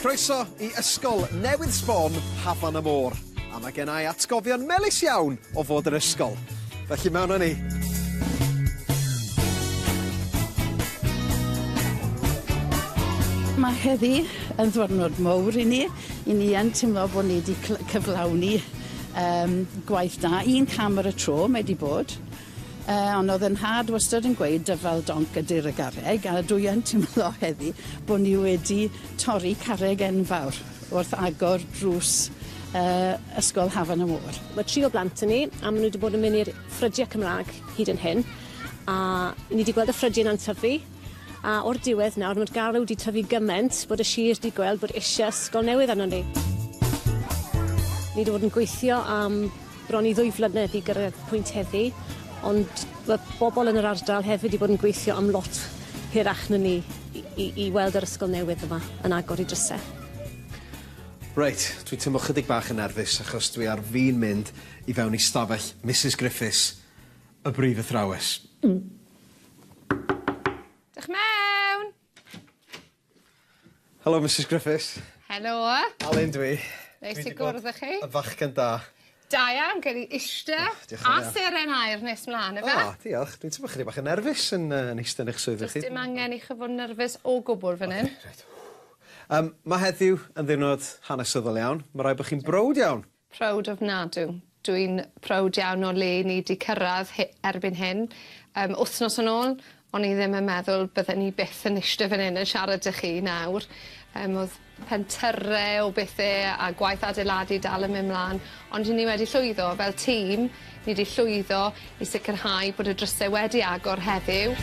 Croeso i ysgol newydd sbon Hafan y Môr a ma' gennai atgofion melys iawn o fod yr ysgol. Felly mewn â ni. Mae heddi yn ddwrnod mowr i ni. I ni yn timlo bod ni 'di cyflawni yym gwaith da. Un cam ar y tro mae 'di bod. Yy, ond o'dd 'yn nhad wastad yn gweud dyfal donc ydi'r y garreg, a dwi yn timlo heddi bo' ni wedi torri carreg enfawr wrth agor drws yy ysgol Hafan y Môr. Ma' tri o blant 'da ni, a ma' nw 'di bod yn myn' i'r ffrydie Cymra'g hyd yn hyn, a ni 'di gweld y ffrydie 'na'n tyfu, a o'r diwedd nawr ma'r garw 'di tyfu gyment bod y sir 'di gweld bod isie ysgol newydd arnon ni. Ni 'di bod yn gweithio am Bron i ddwy flynedd i gyrraedd pwynt heddi, ond ma' bobl yn yr ardal hefyd 'di bod yn gweithio am lot hirach na ni i i i weld yr ysgol newydd yma yn agor 'i dryse. Reit, dwi'n teimlo chydig bach yn nerfus achos dwi ar fin mynd i fewn i stafell Misus Griffiths, y brif athrawes. Dewch mewn! Helo Misus Griffiths. Helo. Alun dwi. Neis i gwrdd â chi. Y fachgen da. Da iawn, gen i ishte a seren aer nes mlan efe. O, diolch. Dwi'n teimlo chydig bach yn nerfus yn yy yn ishte yn eich swyddfa chi. Does dim angen i chi fod yn nerfus o gwbwl fan 'yn. Reit. Yym ma' heddiw yn ddiwrnod hanesyddol iawn. Ma' raid bo' chi'n browd iawn. Proud ofnadw. Dw i'n proud iawn o le ni 'di cyrraedd he- erbyn hyn. Yym, wthnos yn ôl, o'n i ddim yn meddwl bydden ni byth yn ishte fan hyn yn siarad 'da chi nawr. Yym, o'dd pentyrre o bethe a gwaith adeiladu dal yn myn' mlan, ond 'yn ni wedi llwyddo fel tîm, Ni 'di llwyddo i sicrhau bod y drysau wedi agor heddiw.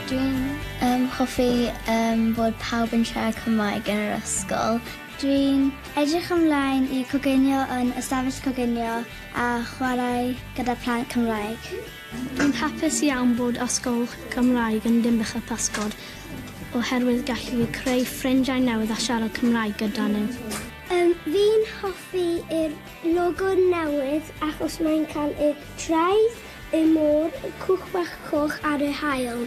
Dwi'n um, hoffi um, bod pawb yn siarad Cymraeg yn yr ysgol. Dwi'n edrych ymlaen i coginio yn ystafell coginio a chwarae gyda plant Cymraeg. Rwy'n hapus iawn bod Ysgol Cymraeg yn Dinbych a Physgod oherwydd gallu fi creu ffrindiau newydd a siarad Cymraeg gyda nhw. Yym, fi'n hoffi yr logo newydd achos mae'n cael y traeth, y môr, y cwch bach coch ar y haul.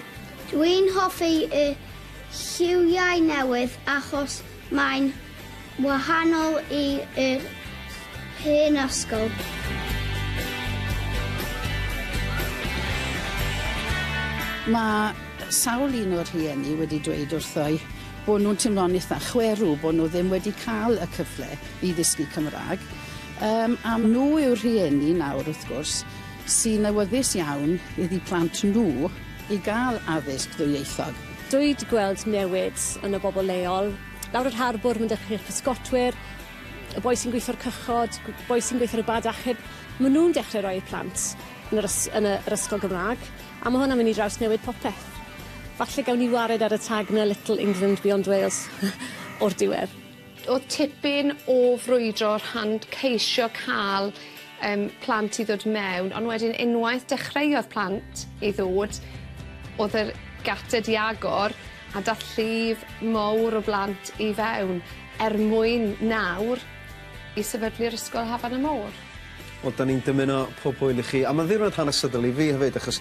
Dwi'n hoffi y lliwiau newydd achos Mae'n wahanol i yr hen ysgol. Mae sawl un o'r rhieni wedi dweud wrtho i bod nhw'n timlo'n eitha' chwerw bod nhw ddim wedi cael y cyfle i ddysgu Cymraeg. Yym a nhw yw'r rhieni nawr wrth gwrs sy'n awyddus iawn iddi plant nhw i gael addysg ddwyieithog. Dwi 'di gweld newid yn y bobl leol. Lawr yr harbwr ma'n dechrau i'r pysgotwyr, y boi sy'n gweithio'r cychod, boi sy'n gweithio ar y bad achub, ma' nhw'n dechrau rhoi eu plant yn yr ys- yn y yr ysgol Gymra'g, a ma' hwnna'n mynd i drawsnewid popeth. Falle gawn ni wared ar y tag 'na Little England Beyond Wales o'r diwedd. O'dd tipyn o frwydro o'r rhan ceisio ca'l yym plant i ddod mewn ond wedyn unwaith dechreuodd plant i ddod o'dd yr gate 'di agor a dath llif mowr o blant i fewn er mwyn nawr i sefydlu'r ysgol Hafan y Môr. Wel 'dan ni'n dymuno pob hwyl i chi a ma'n ddiwrnod hanesyddol i fi hefyd achos